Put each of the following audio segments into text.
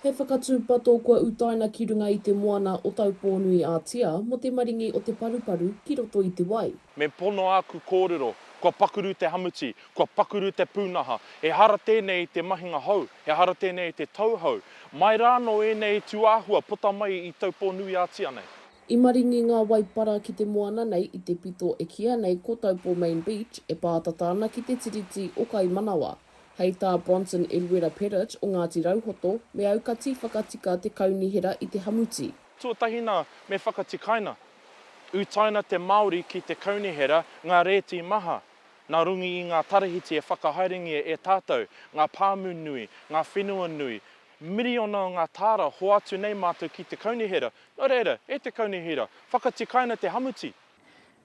He whakatūpato kua utaina ki runga i te moana o Taupōnui-ā-Tia mō te maringi o te paruparu ki roto i te wai. Me pono āku kōrero, kua pakuru te hamuti, kua pakuru te pūnaha. Ehara tēnei i te mahinga hou, ehara tēnei i te tau hou. Mai rā anō ēnei tūāhua puta mai i Taupōnui-ā-Tia nei. I maringi ngā waipara ki te moana nei i te pito e kīia nei ko Taupo Main Beach e pātata ana ki te Tiriti o Kaimanawa. Hei tā Bronson Eruera Pettit o Ngāti Rauhoto, me aukati whakatika te kaunihera i te hamuti. Tuatahi nā, me whakatikaina. Utaina te Māori ki te kaunihera ngā rēti maha, nā runga i ngā tarahiti e whakahaerengia e tātou, ngā pāmu nui, ngā whenua nui. Miriona o ngā tāra hoatu nei mātou ki te kaunihera. Nō reira, e te kaunihera, whakatikaina te hamuti.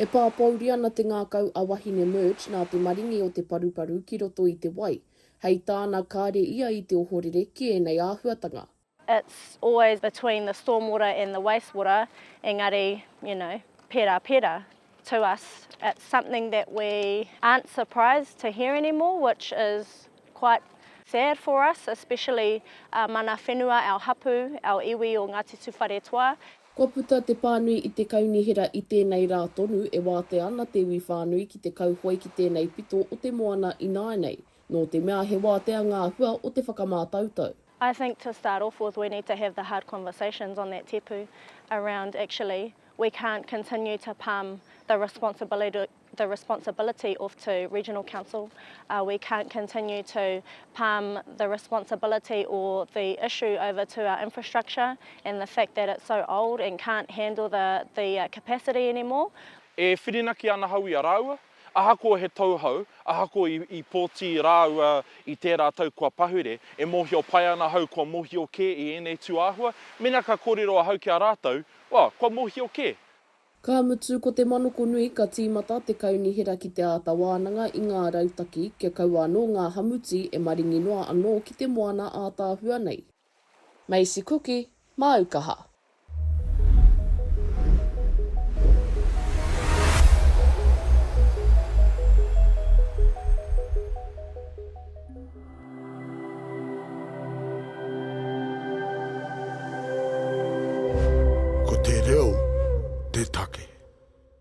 E pāpouri ana te ngākau a Wahine Murch nā te maringi o te paruparu ki roto i te wai. Hei tāna, kāre ia i te ohorere ki ēnei āhuatanga. It's always between the storm water and the waste water, engari, you know, pērā, pērā. To us, it's something that we aren't surprised to hear anymore, which is quite sad for us, especially our mana whenua, our hapu, our iwi o Ngāti Tūwharetoa. Kua puta te pānui i te kaunihera i tēnei rā tonu e wātea ana te iwi whānui ki te kauhoe ki tēnei pito o te moana ināianei, nō te mea he wātea ngā hua o te whakamātautau. I think to start off with we need to have the hard conversations on that tipu around actually we can't continue to palm the responsibility the responsibility of to regional council uh, we can't continue to palm the responsibility or the issue over to our infrastructure and the fact that it's so old and can't handle the the uh, capacity anymore E whirinaki ana hau i a rāua, ahakoa he tauhou, ahakoa i, i pōti rāua i tērā tau kua pahure, e mōhio pai ana hau kua mōhio kē i ēnei tūāhua, mena ka kōrero ahau ki a rātou, well, kua mōhio kē. Ka mutu ko te manokonui ka tīmata te kaunihera ki te āta wānanga i ngā rautaki kia kaua anō ngā hamuti e maringi noa anō ki te moana ātaahua nei. Macy Kuki, māu kaha. Ko te reo te take.